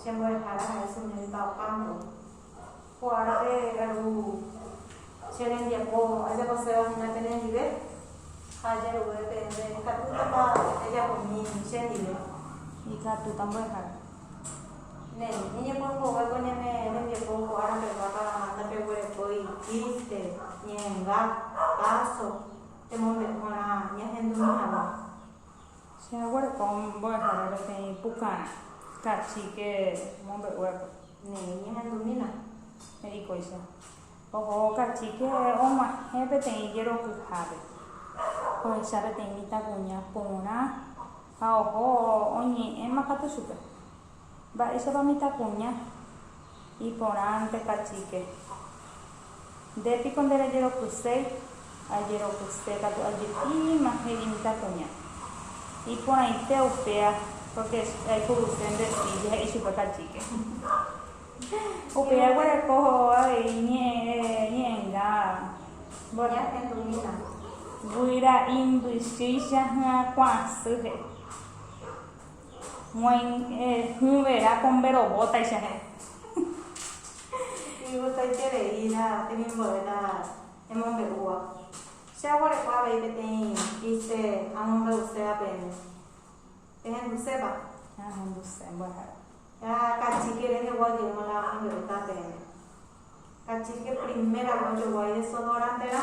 Che mbo'ehára ha'e che ñanita opa ndéve. Ko árape aru che rembiapo ajaposéva hína penendive, ha ajeruve peẽme ikatútapa ejapo umi che ndive. Ikatúta mbo'ehára. Néi, ñañepua mbogue ko ñane rembiapo ko árape guápa manda peguerekói triste, ñe'ẽnga, páso, temombe'u g̃uarã ñahendumi hague. Che aguereko mbo'ehára peteĩ pukárã kachíke mombe'uépe. Ne'ẽ ñehendumína, he'i kóicha. Oho kachíke og̃uahẽ peteĩ jerokyhápe. Ohecha peteĩ mitãkuña porã ha oho oñe'ẽma katu chupe. Mba'éichapa mitãkuña iporãnte kachike? Nde piko nde rejerokyséi? Ajerokyse katu ajepíma he'i mitãkuña. Iporãite upéva pórke che aipuruse nde silla he'i chupe kachike. Upéva guereko avei ñe'ẽnga mboyve. Guyra imbychýicha hyakuãsy he'i. Moĩngue hũ vera ko mbe robótaicha heẽ. Imbotaikerei la temimbo'e la emombe'úva. Che aguereko avei peteĩ ise amombe'uséva pene. Ehendusépa? Ahenduse mbo'ehára. La kachike rehegua ojeýma la amombe'uta peẽme. Kachike primera vez ojoguái desodorante rã.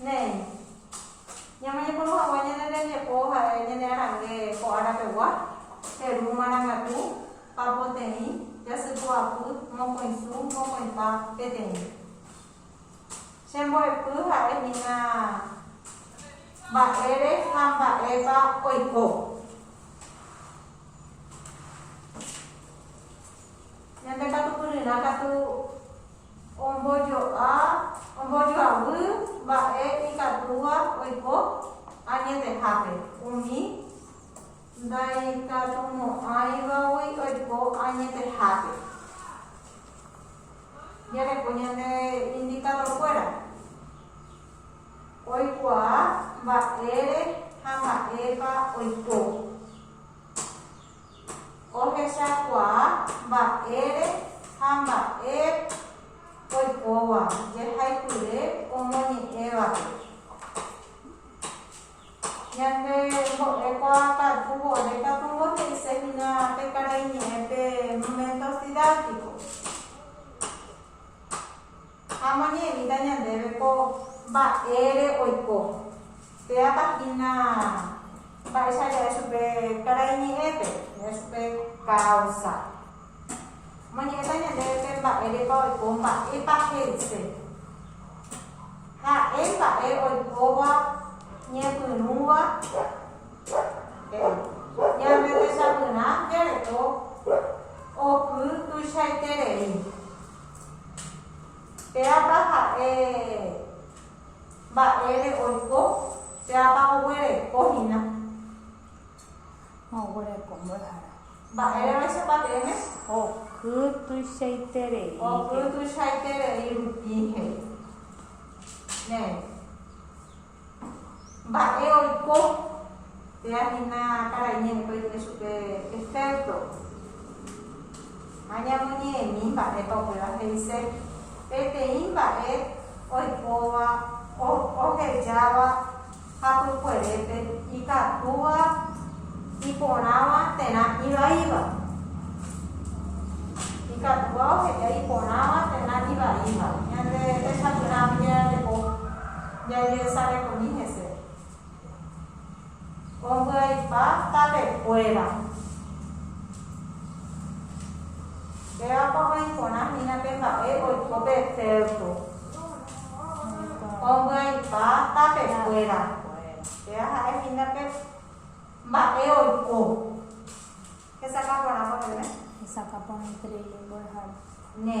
Néi, ñame ñepyrũ hague ñane rembiapo ha'e ñane arangue ko ára pegua, heru marangatu, pa poteĩ, jasy pu'apy, mokõi su, mokõi pa, peteĩ. Che mbo'epy ha'e hína mba'ére ha mba'épa oiko. Ñande katupyryrã katu. Ombojo'a, ombojoavy mba'e ikatúva oiko añetehápe, umi ndaikatumo'ãivagui oiko añetehápe. Jareko ñande indikadorkuéra oikuaa mba'ére ha mba'épa oiko. Ohechakuaa mba'ére ha mba'e oikóva jehaipyre omoñe'ẽvape. Ñande mbo'ekuaa katu vove katu mbohe'ise hína pe karaiñe'ẽ pe Momento Didáctico. Ha omoñe'ẽmíta ñandéve ko mba'ére oiko. Péapa hína mba'éicha jae chupe karai ñe'ẽpe, jae chupe káusa. Omoñe'ẽta ñandéve pe mba'érepa oiko, mba'épa he'ise. Ha'e mba'e oikóva ñepyrũva he'i. Ñande techapyrã jareko oky tuichaiterei. Péapa ha'e mba'ére oiko? Péapa oguereko hína? Ha oguereko mbo'ehára. Mba'ére vaichapa peẽme? Oky tuichaiterei. Oky tuichaiterei rupi he'i. Néi. Mba'e oiko péa hína karai ñe'ẽpe oike chupe efékto ha ñamoñe'ẽmi mba'épa upéva he'ise. Peteĩ mba'e oikóva ohejáva hapykuerépe ikatúva iporãva terã ivaíva. Ikatúva oheja iporãva terã ivaíva. Ñande resapyrãmi jajapo Jajesarekomi hese. Ombyaipa tapekuéra. Pévapa oĩ porã hína pe mba'e oiko pe cerco. Ombyaipa tapekuéra. Péva ha'e hína pe mba'e oiko. Hesakã porã mboyve. Hesakã porã ikreíble mbo'ehára. Ne.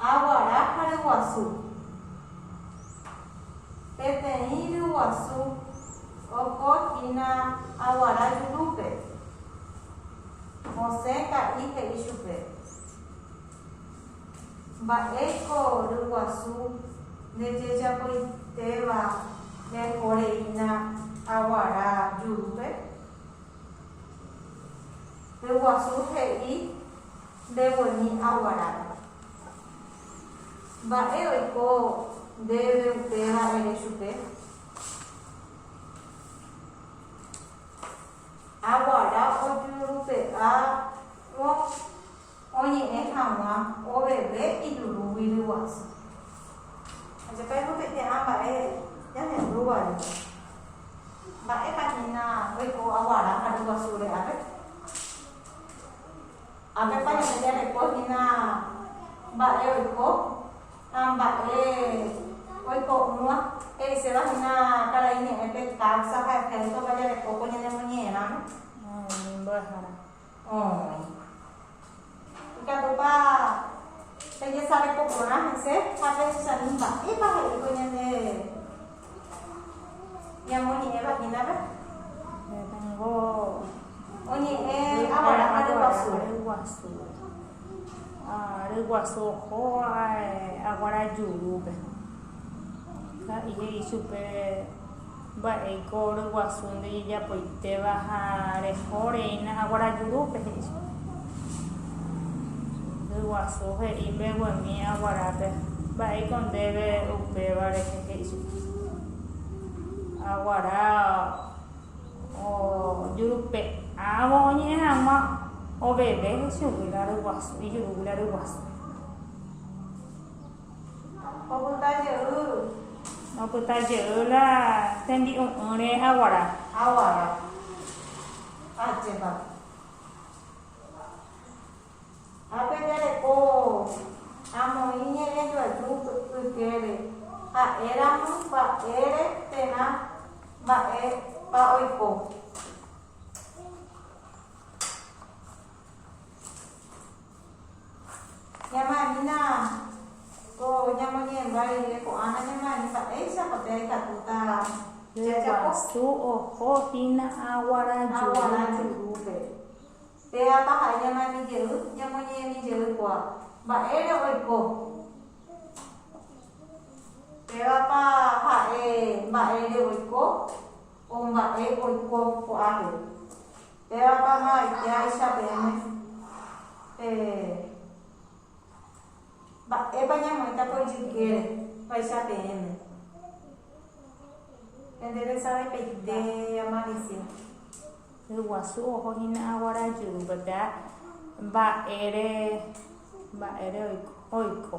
Aguara ha ryguasu. Peteĩ ryguasu oko hína aguara jurúpe. Mosẽ ka'i he'i chupe, Mba'éiko ryguasu ndejejapoitéva rehoreína aguara jurúpe? Ryguasu he'i, Ndeguemi aguarápe. Mba'e oiko ndéve upéva ere chupe? Aguara ojurupe'árõ oñe'ẽ hag̃ua oveve ijurúgui ryguasu. Ajapái omoteite'ã mba'e ñahendúvare. Mba'épa hína oiko aguara ha ryguasu re'ápe? Ha Pépa ñande jareko hína mba'e oiko ha mba'e oiko'ỹva. He'iséva hína karai ñe'ẽpe káusa ha ehéntropa jarekóko ñanemoñe'ẽramo. Umi mbo'ehára. Oĩ. Ikatúpa pejesareko porã hese ha pehechami mba'épa he'íkuri ñande. Ñamoñe'ẽva hínape oñe'ẽ Abrahán ryguasu ohóva aguára jurúpe. Ka'i he'i chupe mba'éiko ryguasu ndejejapoitéva ha reho reína aguára jurúpe, he'i chupe. Yguasu he'i mbeguemi aguarápe, Mba'éiko ndéve upéva rehe? he'i chupe. Aguara ojurupe'ãvo oñe'ẽ hag̃ua oveve chugui la ryguasu, ijurúgui la ryguasu. Opyta jeýgui. Opyta jey la tembi'u'ỹre aguara. Aguara. Ajépa. Ha pe jareko amoĩ ñe'ẽ joaju ykére, ha'e ramo mba'ére térã mba'épa oiko. Ñamo'ẽmína ko ñamoñe'ẽmba rire ko'ã nañamo'ẽmi mba'éichapa pe aikatúta jajapo. Su oho hína aguara jurúpe. Pe Apa ha'e ñamo'ẽmi jey, ñamoñe'ẽmi jey koa. Mba'ére oiko? Pe Apa ha'e mba'ére oiko o mba'e oiko ko'ápe. Pévapa ha aikeháicha peẽme pe mba'épa ñamoĩta ko ijykére vaicha peẽme? Pende pensave peite amalisia. Yguasu oho hína aguara jyru pepea mba'ére mba'ére oiko.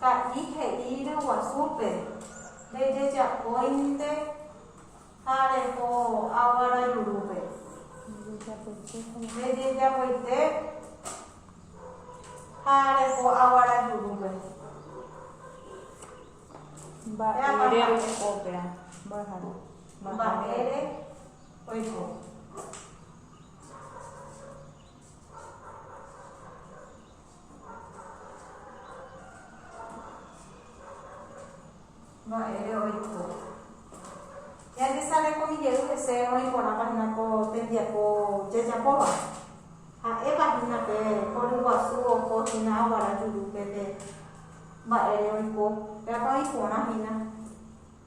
Ka'i he'i ryguasúpe, Ndejejapóinte ha reho água rajurúpe. Ndejejapoite ha reho água rajurúpe. Mba'ére oiko ópera? Mbo'ehára. Mba'ére oiko. Mba'ére oiko. Ñandisa rekomi jey hese oĩ porãpa hína ko tembiapo jajapóva. Ha'épa hína pe hory guasu oho hína aguara jurúpe pe mba'ére oiko. Peápa oĩ porã hína.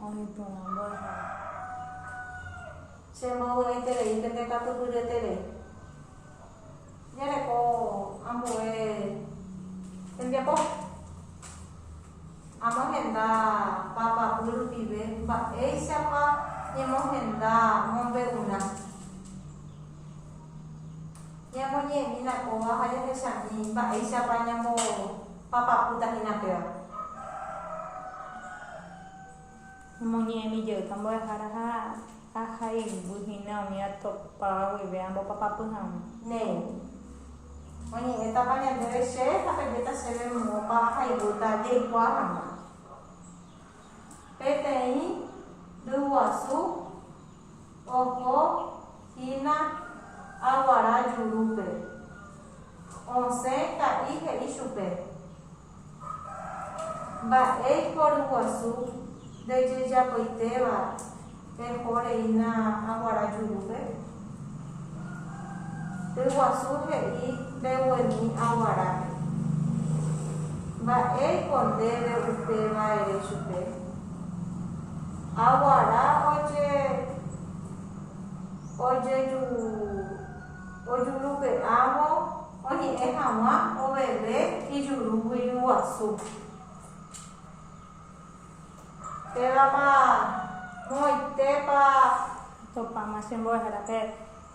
Oĩporãmbo hag̃ua. Che módo reiterei pende katupyryete-re. Jareko ambue tembiapo. Amohenda papapy rupive mba'éichapa ñemohenda mombe'urã. Ñamoñe'ẽmína kóva ha jahechami mba'éichapa ñambo. Papapúta hína péva. Omoñe'ẽmi jey tambo'ehára ha ahayhu hína umi atopáva guive ambopapapy hag̃ua. Néi. Oñe'ẽtapa ñandéve che ha pejéta chéve moõpa ahayhúta jaikuaa hag̃ua. Peteĩ ryguasu. Oho hína aguara jurúpe. Osẽ ka'i he'i chupe, Mba'éiko ryguasu ndejejapoitéva eho reína aguara jurúpe? Ryguasu he'i mbeguemi aguarápe, Mba'éiko ndéve upéva ere chupe? Aguara ojejurupe'ávo oñe'ẽ hag̃ua oveve ijuru guiruguasu. Pévapa moõitépa. Tupãme che mbo'ehára pe.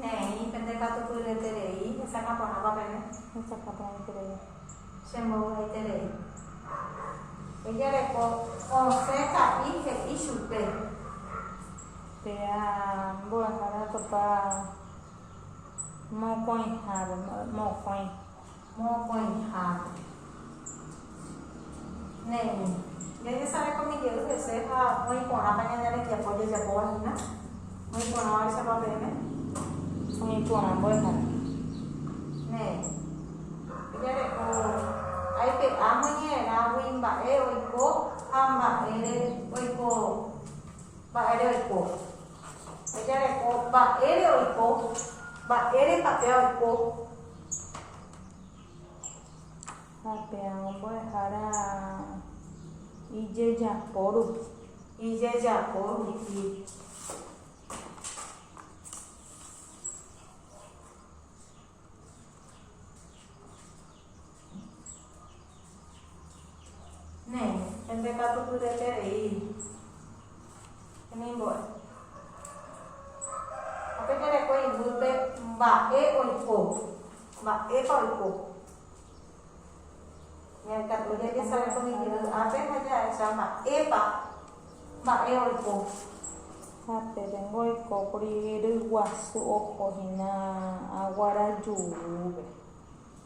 Ne'ẽi, pende katu pyeterei hesakã porãpa pene. Hesakã porãiterei. Che mbovy'aiterei. Ejareko osẽ sa'i he'i chupe. Péa mbo'ehára topa mokõihápe, mokõi. Mokõiháme. Némi, jañesarekómi jey hese ha oĩ porãpa ñane rembiapo jajapóva hína, oĩ porãvaichapa peẽme? Oĩ porã mbo'ehára. Némi, ejareko aipe'áma ñe'ẽrãgui mba'e oiko ha mba'ére oiko, mba'ére oiko. Ejareko mba'ére oiko, mba'érepa péva oiko. Ha pearõ mbo'ehára ijejapo rupi. Ijejapo rupi. Néi, pende katu pyreterei hemimbo'e. Ha pe terekue iguýpe mba'e oiko, mba'épa oiko. Ñaikatu jajesave ko ñeñe'ỹ ápe ha jahecha mba'épa mba'e oiko. Ha péveko oikókuri ryguasu oho hína aguarajúpe.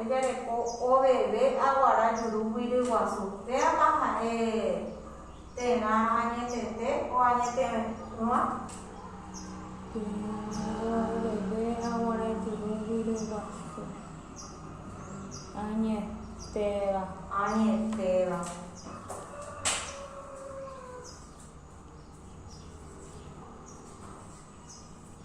Ejereko oveve aguara juru guiri guasu, péapa ha'e terã añetete o añete'ỹva? Ejereko oveve aguara juru guiri guasu, añetéva. Añetéva.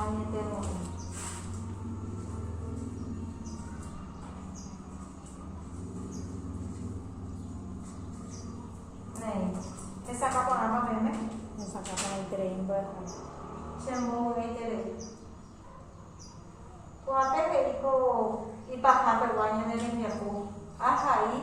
Añetemo'ãi. Néi. Hesakã porãpa peme. Hesakã porãiterei mbyahai. Che mbovy'aiterei. Kuape he'i ko ipahápegua ñane rembiapo, Ahai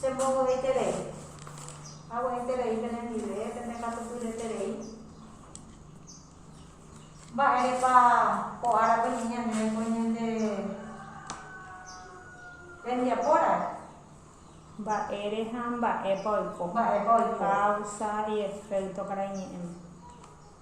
Che mboyv'eiterei. Ague'ẽiterei pene ndive, pene katupyreterei. Mba'érepa ko árape ñeñanére ko ñande rembiapóra? Mba'ére ha mba'épa oiko. Mba'épa oiko. Káusa y efékto karai ñe'ẽme.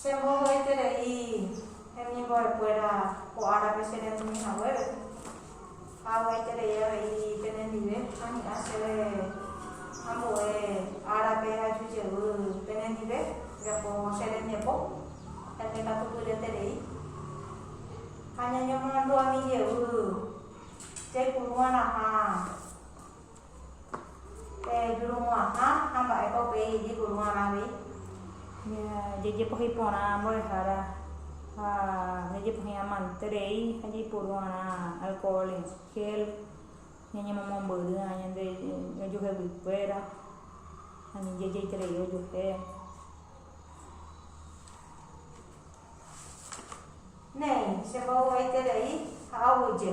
Che mbohoiterei hemimbo'ekuéra ko árape che retũmi haguére, ha aguaiterei avei penendive ahi'ã chéve ambue árape aju jevy penendive japo che rembiapo, ha ñekatupyreterei. Ha ñañemomandu'ami jevy jaipuru'arãha. Jejurumo'ãha ha mba'épa upéi jejuru'arã avei. Jajepohyi porã mbo'ehára ha jajepohyi amante rei ha jaiporu'arã alcohol en gel, ñañemomombyrýva ñande ojueheguikuéra ani jajeiterei ojuehe. Néi, che mboyvúeiterei ha aguyje.